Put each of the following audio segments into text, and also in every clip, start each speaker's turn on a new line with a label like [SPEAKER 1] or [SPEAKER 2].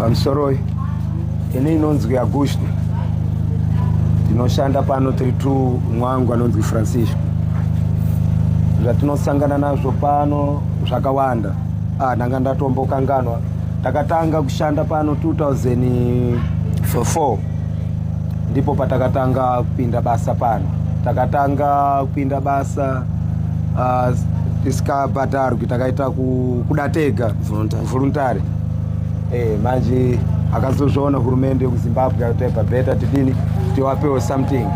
[SPEAKER 1] Pamsoroi, ini inonzwi Agushni. Ndinoshanda pano tiri two mwangu anonzwi Francisco. Zvatinosangana nazvo pano zvakawanda. Ah, ndanga ndatombokanganwa. Takatanga kushanda pano 2004. Ndipo patakatanga kupinda basa pano. Takatanga kupinda basa uh, ah, tisikabhadharwi takaita kuda tega voluntary. Eh, manje akazozviona hurumende yekuzimbabwe yataipa beta tidini tiwapewo something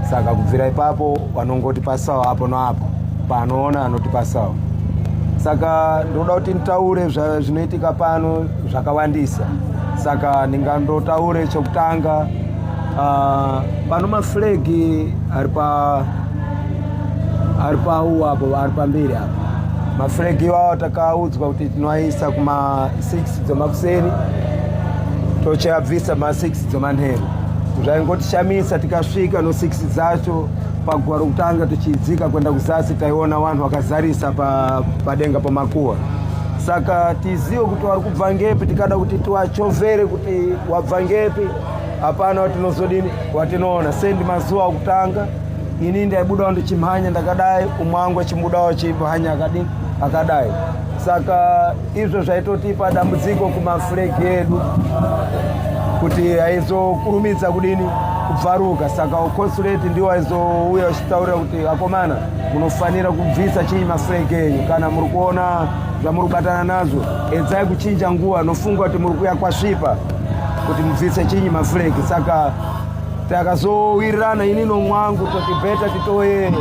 [SPEAKER 1] saka kubvira ipapo vanongotipasawo apo noapo paanoona anotipasawo saka ndinoda kuti nditaure zvinoitika pano zvakawandisa saka ndingandotaure chokutanga uh, pano maflegi ari pa ari pawo apo ari pamberi apo mafregi iwawo takaudzwa kuti tinoaisa kuma 6 dzemakuseni tochiabvisa ma 6 dzemanheru zvaingotishamisa tikasvika no 6 dzacho paguva rokutanga tichidzika kuenda kuzasi taiona vanhu vakazarisa padenga pa pamakuwa saka tizive kuti wari kubva ngepi tikada kuti tiwachovere kuti wabva ngepi hapana watinozodini watinoona sendi mazuva okutanga ini ndaibudawo ndichimhanya ndakadai umwe wangu achibudawo achimhanya akadini akadai saka izvo zvaitotipa dambudziko kumafuregi edu kuti haizokurumidza kudini kubvaruka saka uconsulate ndiwo aizouya achitaurira kuti akomana munofanira kubvisa chinyi mafuregi enyu kana muri kuona zvamuri kubatana nazvo edzai kuchinja nguva nofunga kuti muri kuya kwasvipa kuti mubvise chinyi mafuregi saka takazowirirana ini nomwangu toti beta titoye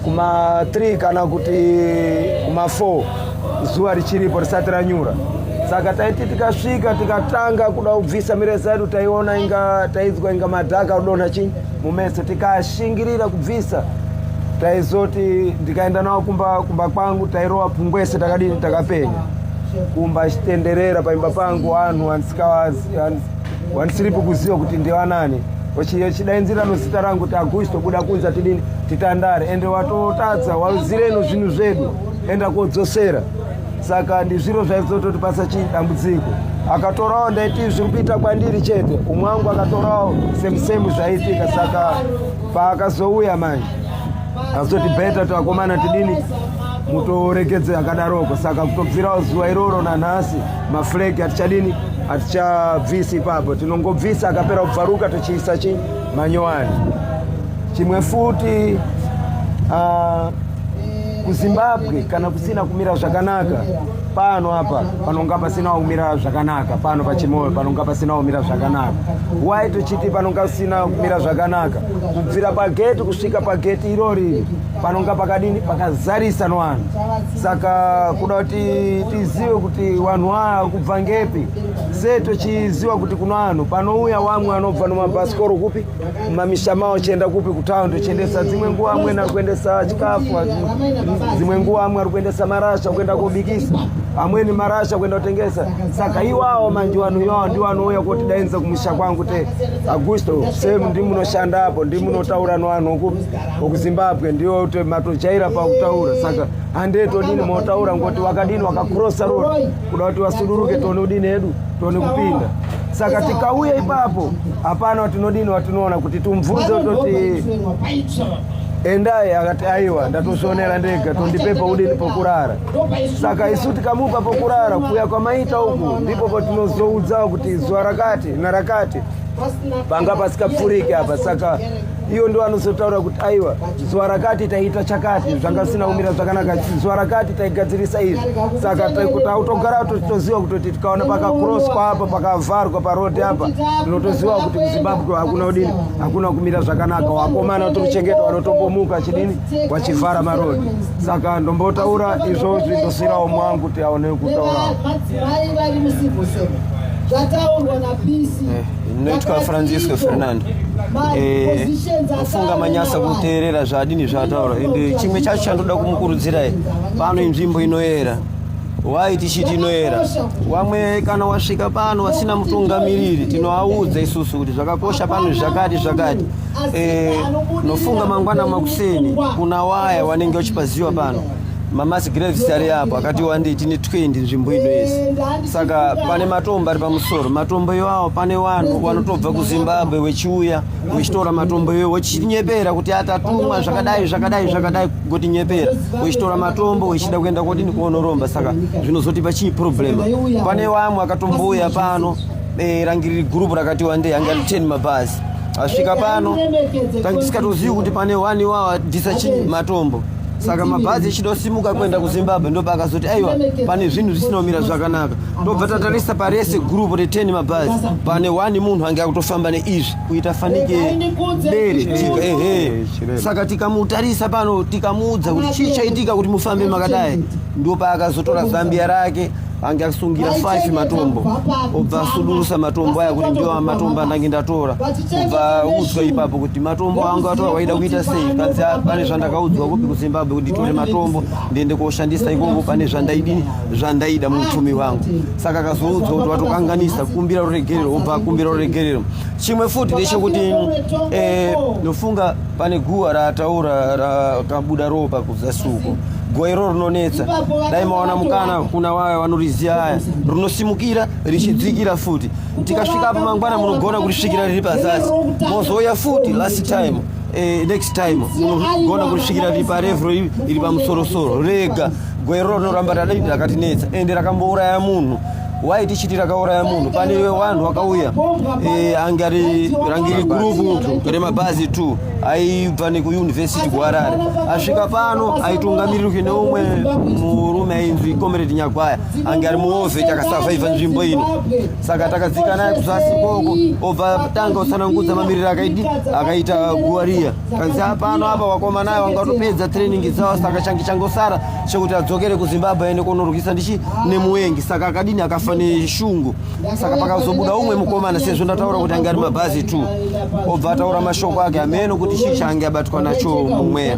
[SPEAKER 1] kuma 3 kana kuti kuma 4 zuva richiripo risati ranyura saka taiti tikasvika tikatanga kuda kubvisa mireza yedu taiona inga taidzwa inga madhaka kudonha chii mumeso tikashingirira kubvisa taizoti ndikaenda nawo kumba kumba kwangu tairova pungwese takadini takapenya kumba chitenderera paimba pangu vanhu handisikawazi wanisiripi kuziva kuti ndivanani chidainzira nozita rangu kuti agushi tobuda kunza tidini titandare ende watotadza wazireno zvinhu zvedu enda kodzosera saka ndizviro zvaizototi pasa chii dambudziko akatorawo ndaiti zviri kuita kwandiri chete umwe wangu akatorawo semusemu zvaiitika saka paakazouya manje azoti beta tivakomana tidini mutoregedze akadaroko saka kutobvirawo zuva iroro nanhasi mafuregi hatichadini hatichabvisi ipapo tinongobvisa akapera kubvaruka tochiisa chi manyowani chimwe futi uh, kuzimbabwe kana kusina kumira zvakanaka pano apa panonga pasina kumira zvakanaka pano pachimoyo panonga pasina kumira zvakanaka wai tochiti panonga pasina kumira zvakanaka kubvira pageti kusvika pageti irori panonga pakadini pakazarisa nwanhu saka kuda kuti tizive kuti vanhu ava kubva ngepi se tochiziva kuti kuna vanhu panouya wamwe vanobva nomabhasikoro kupi mumamisha mavo chienda kupi kutaun tochiendesa dzimwe nguva amweni ari kuendesa chikafu dzimwe nguva amwe ari kuendesa marasha kuenda kobikisa amweni marasha kuenda kutengesa saka iwawo manje vanhu iwawo ndiwo anouya kotidainza kumusha kwangu te agusto se ndimunoshanda apo ndimunotaura novanhu kupi okuzimbabwe ndiwo matojaira pakutaura saka handei todini motaura ngoti wakadini wakakrosa roni kuda kuti vasuduruke tione udini hedu tione kupinda saka tikauya ipapo hapana watinodini watinoona kuti tumvunze toti endai akati aiwa ndatozvionera ndega tondipepa udini pokurara saka isu tikamupa pokurara kuya kwamaita uku ndipo patinozoudzawo kuti zuva rakati narakati panga pasikapfuriki apa saka iyo ndo anozotaura kuti aiwa zuva rakati taiita chakati zvanga zvisina kumira zvakanaka zuva rakati taigadzirisa izvi saka tautogara toziva kutoti tikaona pakakroswa apa pakavharwa parodi apa tinotoziva kuti muzimbabwe hakuna udini hakuna kumira zvakanaka wakomana tochengeta wanotombomuka chidini wachivhara marodi saka ndombotaura izvozvi ndosirawo mwangu kuti aone kutaurawo zvataurwa
[SPEAKER 2] napisi ndinoitwa francisco fernando eh, ofunga manyasa kuteerera zvaadini zvaataura ende chimwe chacho chandoda kumukurudzirai pano inzvimbo inoyera wai tichiti inoyera wamwe kana wasvika pano wasina mutungamiriri tinoaudza isusu kuti zvakakosha pano zvakati zvakati eh, nofunga mangwana makuseni kuna waya wanenge uchipaziwa pano mamass graves ari apo akati wandei tine 20 nzvimbo ino yese saka pane matombo ari pamusoro matombo iwawo pane vanhu vanotobva kuzimbabwe wechiuya wechitora matombo iwayo wechinyepera kuti atatumwa zvakadai zvakadai zvakadai kotinyepera wechitora matombo wechida kuenda kodini kuonoromba saka zvinozotipa chii problema pane vamwe akatombouya pano eh, rangiriri gurupu rakati wandei ange ari 10 mabhazi asvika pano tange tisikatozivi kuti pane wani wawa dhisa chii matombo saka mabhazi echida kusimuka kuenda kuzimbabwe ndoba akazoti aiwa pane zvinhu zvisina kumira zvakanaka ndobva tatarisa parese gurupu re10 mabhazi pane one munhu ange akutofamba neizvi kuita fanike bere ehe saka tikamutarisa pano tikamuudza kuti chii chaitika kuti mufambe makadai ndopa akazotora zambia rake ange asungira 5 matombo obva asudurusa matombo aya kuti ndiwo matombo andange ndatora obva udzwa ipapo kuti matombo angu atora waida kuita sei kanzi ah, pane zvandakaudzwa kupi kuzimbabwe kuti nditore matombo ndiende koshandisa ikoko pane zvandaidini zvandaida muupfumi wangu saka akazoudzwa kuti watokanganisa kumbira ruregerero obva akumbira ruregerero chimwe futi ndechekuti eh, nofunga pane guwa rataura rakabuda ropa zasuko goiro rinonetsa dai mawana mukana kuna wayo vanoriziya aya rinosimukira richidzikira futi tikasvika apa mangwana munogona kurisvikira riri pazasi mozouya futi last time eh, next time munogona kurisvikira riri parevro iri pamusorosoro rega goiro rinoramba radaidi rakatinetsa ende rakambouraya munhu why tichiti rakauraya munhu pane vanhu vakauya e, ange ari rangiri gurupu remabhazi t aibva nekuyunivhesiti kuharare asvika pano aitungamirirwi neumwe murume ainzi comrade nyagwaya ange ari muove takasavhaivha nzvimbo ino saka takadzika naye kuzasi koko obva tanga usanangudza mamiriri akaidi akaita guwa riya kanzi apano apa vakomanayo vangatopedza training dzavo saka change changosara chekuti adzokere kuzimbabwe aende kunorwisa ndichi nemuwengi saka akadini akafa neshungu saka pakazobuda umwe mukomana sezvo ndataura kuti ange ari mabhazi t obva ataura mashoko ake ameno kuti chii chaange abatwa nacho mumweya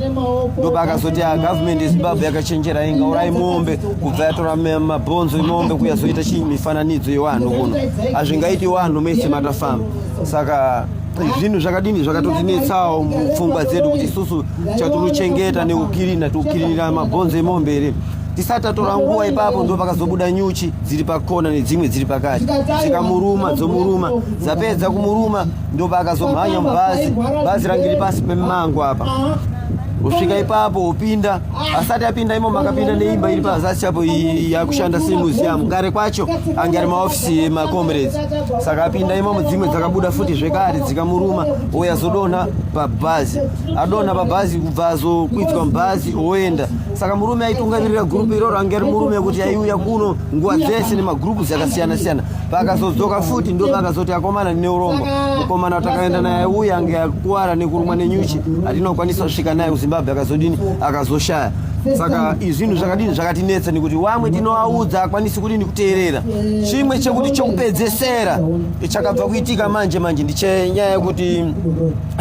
[SPEAKER 2] ndoba akazoti ah, gavhumendi yezimbabwe yakachenjera inga urai mombe kubva yatora mabhonzo emombe kuyazoita chii mifananidzo yewanhu kuno hazvingaiti wanhu mese matafamba saka zvinhu zvakadini zvakatotinetsawo mupfungwa dzedu kuti isusu chatiruchengeta neukirina tiukirinira mabhonzo emombe here tisati tatora nguva ipapo ndo pakazobuda nyuchi dziri pakona nedzimwe dziri pakati dzikamuruma dzomuruma dzapedza kumuruma ndo paakazomhanya mubhazi bhazi rangiri pasi pemango apa usvika ipapo upinda asati apinda imo makapinda neimba iri pazasi chapo yakushanda semuseum kare kwacho ange ari maofisi emacomrades saka apinda imo mudzimwe dzakabuda futi zvekare dzikamuruma ouya zodonha pabhazi adonha pabhazi kubva azokwidzwa mubhazi oenda saka murume aitungamirira gurupu iroro ange ari murume kuti aiuya kuno nguva dzese nemagurupus akasiyana siyana Vakazodzoka futi ndo vakazoti akomana neurombo mukomana watakaenda naye uye ange akuwara nekurumwa nenyuchi atinokwanisa kusvika naye kuzimbabwe akazodini akazoshaya saka izvinhu zvakadini zvakatinetsa nekuti wamwe tinoaudza akwanisi kudini kuteerera chimwe chekuti chokupedzesera chakabva kuitika manje manje ndichenyaya yekuti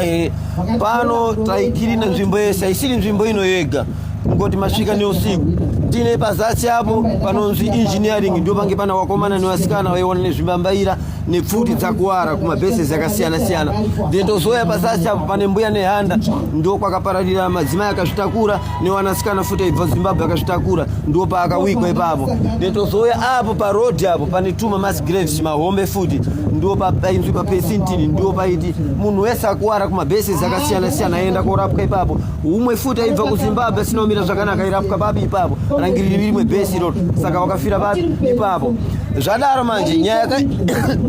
[SPEAKER 2] eh, pano taikirina nzvimbo yese haisiri nzvimbo ino yega kungoti masvika neusiku tine pazasi apo panonzi engineering ndio pange pana wakomana nevasikana vaiona nezvimambaira nepfuti dzakuwara kumabheses akasiyana-siyana then tozoya pazasi apo pane mbuya nehanda ndo kwakapararira madzimai akazvitakura newanasikana futi aibva zimbabwe akazvitakura ndo paakawikwa ipapo then tozoya apo parodi apo pane tuma masgrave mahombe futi ndo painzwi papesintini ndo paiti munhu wese akuwara kumabheses akasiyana-siyana aienda korapwa ipapo umwe futi aibva kuzimbabwe asina kumira zvakanaka irapwa papi ipapo rangiriri rimwe bhesi iroro saka wakafira papi ipapo zvadaro manje nyaya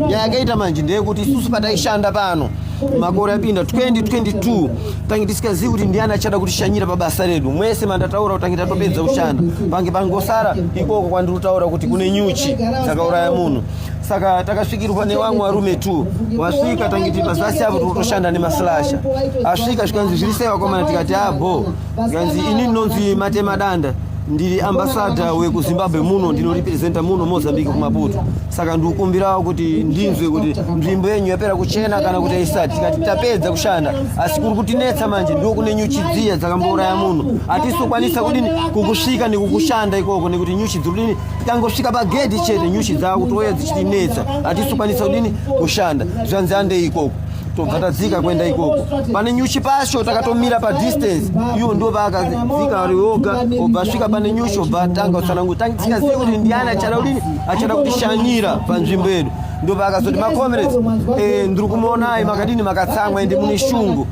[SPEAKER 2] yakaita manje ndeyekuti isusu pataishanda pano makore apinda 2022 tange tisikazivi kuti ndiani achada kutishanyira pabasa redu mwese mandataura kuti tange tatopedza kushanda pange pangosara ikoko kwandiri kutaura kuti kune nyuchi dzakauraya munhu saka takasvikirwa nevamwe varume t wasvika tangiti mazasi avo tikutoshanda nemaslasha asvika zvikanzi zviri sei vakomana tikati abo ah, zvikanzi ini ndinonzi matema danda ndiri ambasada wekuzimbabwe muno ndinorepresenta muno mozambique kumaputo saka ndikukumbirawo kuti ndinzwe kuti nzvimbo yenyu yapera kuchena kana kuti aisati tikati tapedza kushanda asi kuri kutinetsa manje ndo kune nyuchi dziya dzakambouraya munhu hatisokwanisa kudini kukusvika nekukushanda ikoko nekuti nyuchi dzirudini tikangosvika pagedhi chete nyuchi dzava kutouya dzichitinetsa hatisukwanisa kudini kushanda zvanzi andei ikoko tobva tadzika kuenda ikoko pane nyuchi pacho takatomira padistance iwo ndo vaakadzika ari oga obva svika pane nyuchi obva atanga kutsanangu tikazivi kuti ndiani achada kudini achada kutishanyira panzvimbo yedu ndo vaakazoti macomrades eh, ndiri kumaonai makadini makatsamwa ende mune shungu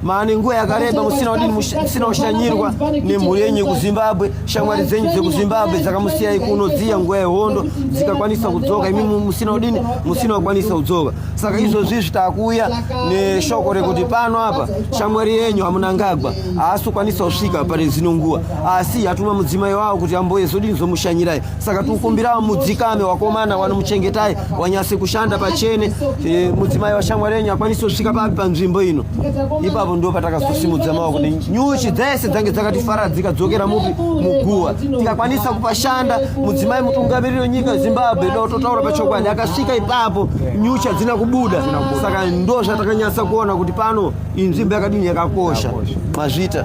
[SPEAKER 2] mani nguva yakareba musina kudini musina kushanyirwa nemhuri yenyu kuzimbabwe shamwari dzenyu dzekuzimbabwe dzakamusiyai kuno dziya nguva yehondo dzikakwanisa kudzoka imi musina kudini musina kukwanisa kudzoka saka izvozvi izvi takuuya neshoko rekuti pano apa shamwari yenyu amunangagwa haasi kukwanisa kusvika pane zino nguva asi yatuma mudzimai wavo kuti amboye zodini zomushanyirai saka tikukumbira mudzikame wakomana wanomuchengetai wanyasi kushanda pachene e, mudzimai washamwari yenyu akwanisi kusvika papi panzvimbo ino ipapo ndo patakazosimudza maoko nenyuchi dzese dzange dzakatifaradzika dzokera mupi muguva tikakwanisa kupashanda mudzimai mutungamiriri wenyika yezimbabwe do totaura pachokwadi akasvika ipapo nyuchi hadzina kubuda saka ndo zvatakanyasa kuona kuti pano inzvimbo yakadini yakakosha mazvita